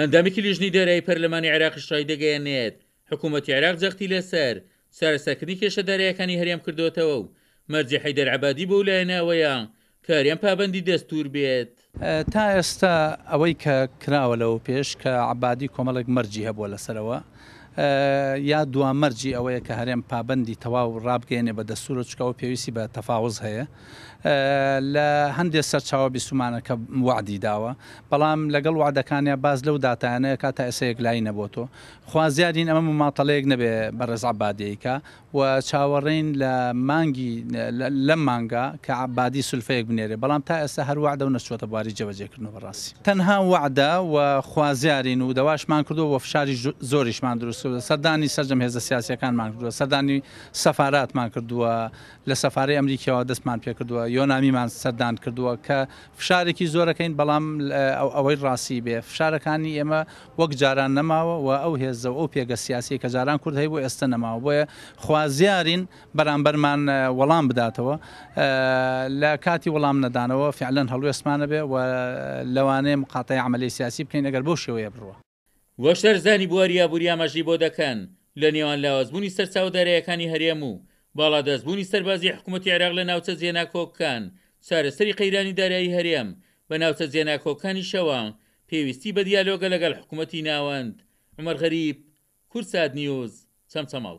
ئەندامێکی لیژنەی دارایی پەرلەمانی عێراقیش ڕایدەگەیەنێت، حکوومەتی عێراق جەختی لەسەر چارەسەرکردنی کێشە دارایەکانی هەرێم کردۆتەوە و مەرجی حەیدەر عەبادی بۆ ئەو لایەنە ئەوەیە کە هەرێم پابەندی دەستوور بێت. تا ئێستا ئەوەی کە کراوە لەوەوپێش کە عەبادی کۆمەڵێک مەرجی هەبووە لەسەرەوە یا دوا مەرجی ئەوەیە کە هەرێم پابەندی تەواو ڕابگەیەنێ بە دەستوور و چونکە ئەوە پێویستی بە تەفاوز هەیە، لە هەندێ سەرچاوە بیستومانە کە وەعدی داوە، بەڵام لەگەڵ وەعدەکانیا باس لەو داتایانە ئەکا تا ئێستا یەکلایی نەبۆتۆ. خوازیارین ئەمە مماطەلەیەک نەبێ بەڕێز عەبادی ئەیکا و چاوەڕێین لە مانگی لەم مانگە کە عەبادی سولفەیەک بنێرێ، بەڵام تا ئێستا هەر وەعدە و نەچووەتە بواری جێبەجێ کردن و بەڕاستی تەنها وەعدە و خوازیارین و دەواشمان کردووە و فشاری زۆریشمان دروست کردووە، سەردانی سەرجەم هێزە سیاسیەکانمان کردووە، سەردانی سەفاراتمان کردووە، لە سەفارەی ئەمریکیەوە دەستمان پێکردووە یۆنامیمان سەردان کردووە کە فشارێکی زۆرەکەین بەڵام ئەوەی ڕاستی بێ فشارەکانی ئێمە وەک جاران نەماوە و ئەو هێزە و ئەو پێگە سیاسی کە جاران کورد هەیبوو ئێستە نەماوە بۆیە خوازیارین بەرامبەرمان وەڵام بداتەوە لە کاتی وەڵام نەدانەوە فعلەن هەڵوێستمانە بێ و لەوانەیە مقاتەی عەمەلی سیاسی بکەین ئەگەر بەو شێوەیە بڕوا. وشارزانی بواری ئابوری ئاماژەی بۆ دەکەن، لە نێوان لاوازبوونی سەرچاوە دارایەکانی هەرێم و باڵادەستبوونی سەربازیی حکوومەتی عێراق لە ناوچە جێناکۆکەکان، چارەسەری قەیرانی دارایی هەرێم بە ناوچە جێناکۆکەکانیشەوە پێویستی بە دیالۆگە لەگەڵ حکوومەتی ناوەند. عومەر غەریب، کوردسات نیوز، چەمچەماڵ.